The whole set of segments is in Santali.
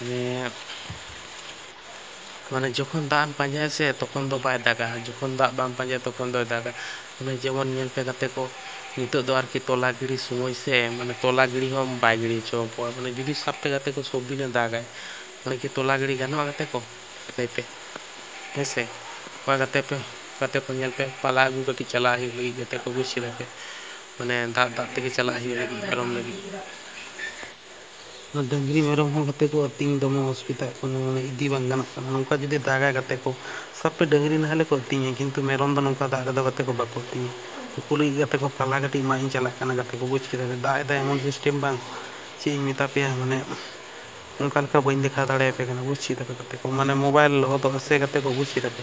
ᱢᱟᱱᱮ ᱢᱟᱱᱮ ᱡᱚᱠᱷᱚᱱ ᱫᱟᱜ ᱮᱢ ᱯᱟᱸᱡᱟᱭᱟ ᱥᱮ ᱛᱚᱠᱷᱚᱱ ᱫᱚ ᱵᱟᱭ ᱫᱟᱜᱟ ᱡᱚᱠᱷᱚᱱ ᱫᱟᱜ ᱵᱟᱢ ᱯᱟᱸᱡᱟᱭᱟ ᱛᱚᱠᱷᱚᱱ ᱫᱚᱭ ᱫᱟᱜᱟ ᱢᱟᱱᱮ ᱡᱮᱢᱚᱱ ᱧᱮᱞ ᱯᱮ ᱜᱟᱛᱮ ᱠᱚ ᱱᱤᱛᱚᱜ ᱫᱚ ᱟᱨᱠᱤ ᱛᱚᱞᱟ ᱜᱤᱲᱤ ᱥᱚᱢᱚᱭ ᱥᱮ ᱢᱟᱱᱮ ᱛᱚᱞᱟ ᱜᱤᱲᱤ ᱦᱚᱸ ᱵᱟᱭ ᱜᱤᱲᱤ ᱦᱚᱪᱚ ᱠᱚᱣᱟ ᱢᱟᱱᱮ ᱡᱩᱫᱤ ᱥᱟᱵ ᱯᱮ ᱜᱟᱛᱮ ᱠᱚ ᱥᱚᱵ ᱫᱤᱱᱮ ᱫᱟᱜᱟᱭ ᱢᱟᱱᱮ ᱠᱤ ᱛᱚᱞᱟ ᱜᱤᱲᱤ ᱜᱟᱱᱚᱜᱼᱟ ᱜᱟᱛᱮ ᱠᱚ ᱞᱟᱹᱭ ᱯᱮ ᱦᱮᱸ ᱥᱮ ᱚᱠᱚᱭ ᱜᱟᱛᱮ ᱯᱮ ᱜᱟᱛᱮ ᱠᱚ ᱧᱮᱞ ᱯᱮ ᱯᱟᱞᱟ ᱟᱹᱜᱩ ᱠᱟᱹᱴᱤᱡ ᱪᱟᱞᱟᱜ ᱦᱩᱭᱩᱜ ᱞᱟᱹᱜᱤᱫ ᱜᱟᱛᱮ ᱠᱚ ᱵᱩᱡᱽ ᱠᱮᱫᱟ ᱯᱮ ᱢᱟᱱᱮ ᱫᱟᱜ ᱫᱟᱜ ᱛᱮᱜᱮ ᱪᱟᱞᱟᱜ ᱦᱩᱭᱩᱜᱼᱟ ᱯᱟᱨᱚᱢ ᱞᱟᱹᱜᱤᱫ ᱱᱚᱣᱟ ᱰᱟᱹᱝᱨᱤ ᱢᱮᱨᱚᱢ ᱦᱚᱸ ᱜᱟᱛᱮ ᱠᱚ ᱟᱹᱛᱤᱧ ᱫᱚᱢᱮ ᱚᱥᱩᱵᱤᱫᱷᱟᱜ ᱠᱟᱱᱟ ᱢᱟᱱᱮ ᱤᱫᱤ ᱵᱟᱝ ᱜᱟᱱᱚᱜ ᱠᱟᱱᱟ ᱱᱚᱝᱠᱟ ᱡᱩᱫᱤ ᱫᱟᱜᱟᱭ ᱜᱟᱛᱮ ᱠᱚ ᱥᱟᱵ ᱯᱮ ᱰᱟᱹᱝᱨᱤ ᱱᱟᱦᱮᱞ ᱠᱚ ᱟᱹᱛᱤᱧᱟ ᱠᱤᱱᱛᱩ ᱢᱮᱨᱚᱢ ᱫᱚ ᱱᱚᱝᱠᱟ ᱫᱟᱜ ᱨᱮᱫᱚ ᱜᱟᱛᱮ ᱠᱚ ᱵᱟᱠᱚ ᱟᱹᱛᱤᱧᱟ ᱩᱱᱠᱩ ᱞᱟᱹᱜᱤᱫ ᱜᱟᱛᱮ ᱠᱚ ᱯᱟᱞᱦᱟ ᱠᱟᱹᱴᱤᱡ ᱢᱟᱜ ᱤᱧ ᱪᱟᱞᱟᱜ ᱠᱟᱱᱟ ᱜᱟᱛᱮ ᱠᱚ ᱵᱩᱡᱽ ᱠᱮᱫᱟ ᱡᱮ ᱫᱟᱜ ᱮᱫᱟᱭ ᱮᱢᱚᱱ ᱥᱤᱥᱴᱮᱢ ᱵᱟᱝ ᱪᱮᱫ ᱤᱧ ᱢᱮᱛᱟ ᱯᱮᱭᱟ ᱢᱟᱱᱮ ᱚᱱᱠᱟ ᱞᱮᱠᱟ ᱵᱟᱹᱧ ᱫᱮᱠᱷᱟᱣ ᱫᱟᱲᱮᱭᱟᱯᱮ ᱠᱟᱱᱟ ᱵᱩᱡᱽ ᱠᱮᱫᱟ ᱯᱮ ᱜᱟᱛᱮ ᱠᱚ ᱢᱟᱱᱮ ᱢᱳᱵᱟᱭᱤᱞ ᱞᱚᱦᱚᱫᱚᱜᱼᱟ ᱥᱮ ᱜᱟᱛᱮ ᱠᱚ ᱵᱩᱡᱽ ᱠᱮᱫᱟ ᱯᱮ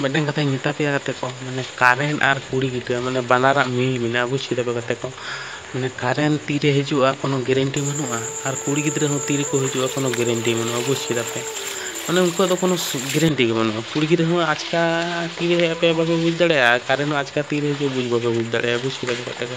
ᱢᱤᱫᱴᱮᱱ ᱠᱟᱛᱷᱟᱧ ᱢᱮᱛᱟ ᱯᱮᱭᱟ ᱜᱟᱛᱮ ᱠᱚ ᱢᱟᱱᱮ ᱠᱟᱨᱮᱱᱴ ᱟᱨ ᱠᱩᱲᱤ ᱜᱤᱫᱽᱨᱟᱹ ᱢᱟᱱᱮ ᱵᱟᱱᱟᱨᱟᱜ ᱢᱤᱞ ᱢᱮᱱᱟᱜᱼᱟ ᱵᱩᱡᱽ ᱠᱮᱫᱟ ᱯᱮ ᱜᱟᱛᱮ ᱠᱚ ᱢᱟᱱᱮ ᱠᱟᱨᱮᱱᱴ ᱛᱤᱨᱮ ᱦᱤᱡᱩᱜᱼᱟ ᱠᱳᱱᱳ ᱜᱮᱨᱮᱱᱴᱤ ᱵᱟᱹᱱᱩᱜᱼᱟ ᱟᱨ ᱠᱩᱲᱤ ᱜᱤᱫᱽᱨᱟᱹ ᱦᱚᱸ ᱛᱤ ᱨᱮᱠᱚ ᱦᱤᱡᱩᱜᱼᱟ ᱠᱳᱱᱳ ᱜᱮᱨᱮᱱᱴᱤ ᱵᱟᱹᱱᱩᱜᱼᱟ ᱵᱩᱡᱽ ᱠᱮᱫᱟ ᱯᱮ ᱢᱟᱱᱮ ᱩᱱᱠᱩᱣᱟᱜ ᱫᱚ ᱠᱳᱱᱳ ᱜᱮᱨᱮᱱᱴᱤ ᱜᱮ ᱵᱟᱹᱱᱩᱜᱼᱟ ᱠᱩᱲᱤ ᱜᱤᱫᱽᱨᱟᱹ ᱦᱚᱸ ᱟᱪᱠᱟ ᱛᱤᱨᱮ ᱦᱮᱡ ᱟᱯᱮᱭᱟ ᱵᱟᱯᱮ ᱵᱩᱡᱽ ᱫᱟᱲᱮᱭᱟᱜᱼᱟ ᱟᱨ ᱠᱟᱨᱮᱱᱴ ᱦᱚᱸ ᱟᱪᱠᱟ ᱛᱤᱨᱮ ᱦᱤᱡᱩᱜᱼᱟ ᱵᱩᱡᱽ ᱵᱟᱯᱮ ᱵᱩᱡᱽ ᱫᱟᱲᱮᱭᱟᱜᱼᱟ ᱵᱩᱡᱽ ᱠᱮᱫᱟ ᱯᱮ ᱜᱟᱛᱮ ᱠᱚ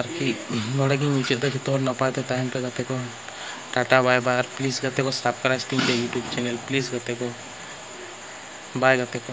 ᱟᱨᱠᱤ ᱱᱚᱰᱮ ᱜᱮᱧ ᱢᱩᱪᱟᱹᱫ ᱮᱫᱟ ᱡᱚᱛᱚ ᱦᱚᱲ ᱱᱟᱯᱟᱭ ᱛᱮ ᱛᱟᱦᱮᱱ ᱯᱮ ᱜᱟᱛᱮ ᱠᱚ ᱴᱟᱴᱟ ᱵᱟᱭ ᱵᱟᱭ ᱟᱨ ᱯᱞᱤᱡᱽ ᱜᱟᱛᱮ ᱠᱚ ᱥᱟᱵᱥᱠᱨᱟᱭᱤᱵᱽ ᱛᱤᱧ ᱯᱮ ᱤᱭᱩᱴᱩᱵᱽ ᱪᱮᱱᱮᱞ ᱯᱞᱤᱡᱽ ᱜᱟᱛᱮ ᱠᱚ ᱵᱟᱭ ᱜᱟᱛᱮ ᱠᱚ